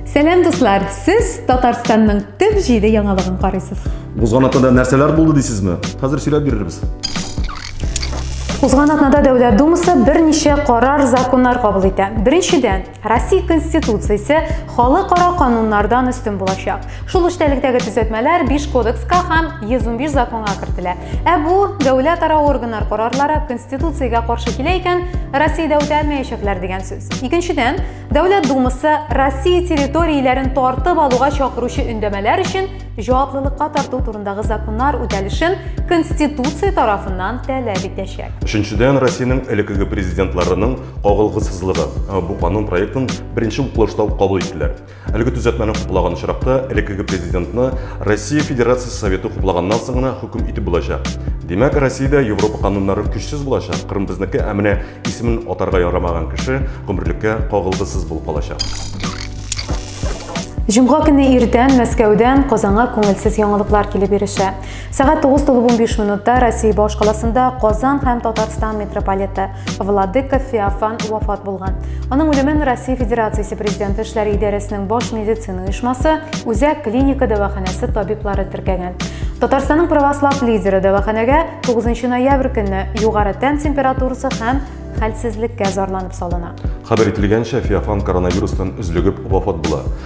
Сәлам дуслар, сез Татарстанның төп җиде яңалыгын карыйсыз. Узган атнада нәрсәләр булды дисезме? Хәзер сөйләп бирербез. Узган атнада Дәүләт Думасы берничә карар законнар кабул итә. Беренчедән, Россия Конституциясе халыкара кануннардан өстен булачак. Шул эчтәлектәге төзәтмәләр 5 кодекска һәм 115 законга кертелә. Ә бу дәүләт ара органнар карарлары Конституциягә каршы килә икән, Россиядә үтәлмәячәкләр дигән сүз. Икенчедән, Дәүләт Думасы Россия территорияләрен тартып алуга чакыручы өндәмәләр өчен җаваплылыкка тарту турындагы законнар үтәлешен Конституция тарафыннан таләп итәчәк. Өченчедән, Россиянең элеккеге президентларының кагылгысызлыгы бу канун проектын беренче укылышта ук кабул иттеләр. Әлеге төзәтмәне хуплаган очракта элеккеге президентны Россия Федерациясе Советы хуплаганнан соң гына хөкем итеп булачак. Димәк, Россиядә Европа кануннары көчсез булачак. Кырым безнеке, ә менә исемен атарга ярамаган кеше гомерлеккә кагылгысыз булып калачак. Җомга көне иртән Мәскәүдән Казанга күңелсез яңалыклар килеп ирешә. Сәгать 9 тулып 15 минутта Россия башкаласында Казан һәм Татарстан митрополиты Владыка Феофан вафат булган. Аның үлемен Россия Федерациясе президенты эшләре идарәсенең баш медицина оешмасы Үзәк клиника дәваханәсе табиблары теркәгән. Татарстанның православ лидеры дәваханәгә 9 ноябрь көнне югары тән температурасы һәм хәлсезлеккә зарланып салына. Хәбәр ителгәнчә, Феофан коронавирустан өзлегеп вафат була.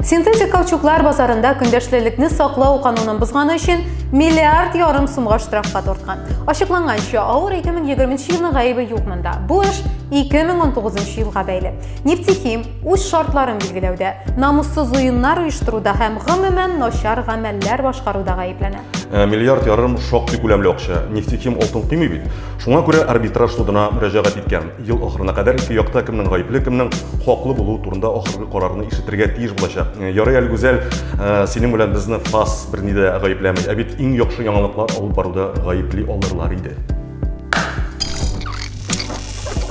Синтетик каучуклар базарында көндәшлелекне саклау канунын бозганы өчен миллиард ярым сумга штрафка тарткан. Ачыкланганча, авыр 2020 елның гаебе юк монда. Бу эш 2019 елга бәйле. Нефтехим үз шартларын билгеләүдә, намуссыз уеннар оештыруда һәм гомумән начар гамәлләр башкаруда гаепләнә. Э, миллиард ярым шактый күләмле акча. Нефтехим алтын кыймый бит. Шуңа күрә арбитраж судына мөрәҗәгать иткән. Ел ахырына кадәр ике якта кемнең гаепле, кемнең хаклы булуы турында ахыргы карарны ишетергә тиеш булачак. Э, ярый әле Гүзәл, э, синең белән безне ФАС берни дә гаепләми. Ә бит иң яхшы яңалыклар алып баруда гаепли алырлар иде.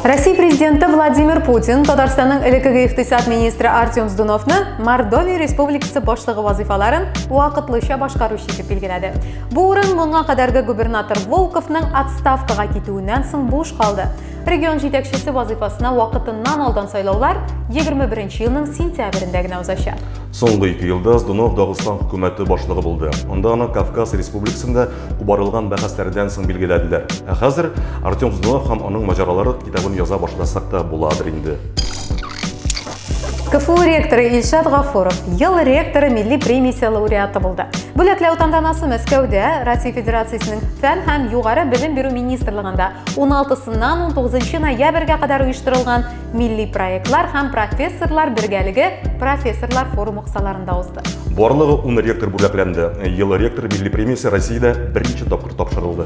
Россия президенты Владимир Путин Татарстанның элеккеге икътисад министры Артем Здуновны Мордовия республикасы башлыгы вазифаларын вакытлыча башкаручы итеп билгеләде. Бу урын моңа кадәрге губернатор Волковның отставкага китүеннән соң буш калды. Регион җитәкчесе вазыйфасына вакытыннан алдан сайлаулар 21 елның сентябрендә генә узачак. Соңгы ике елда Здунов Дагыстан хөкүмәте башлыгы булды. Анда аны Кавказ республикасында кубарылган бәхәсләрдән соң билгеләделәр. Ә хәзер Артем Здунов һәм аның маҗаралары китабын яза башласак та буладыр инде. КФУ ректоры Илшат Гафуров ел ректоры милли премиясе лауреаты булды. Бүләкләү тантанасы Мәскәүдә Россия Федерациясенең фән һәм югары белем бирү министрлыгында 16-сыннан 19 ноябрьгә кадәр оештырылган милли проектлар һәм профессорлар бергәлеге профессорлар форумы кысаларында узды. Барлыгы 10 ректор бүләкләнде. Ел ректор милли премиясе Россиядә беренче тапкыр тапшырылды.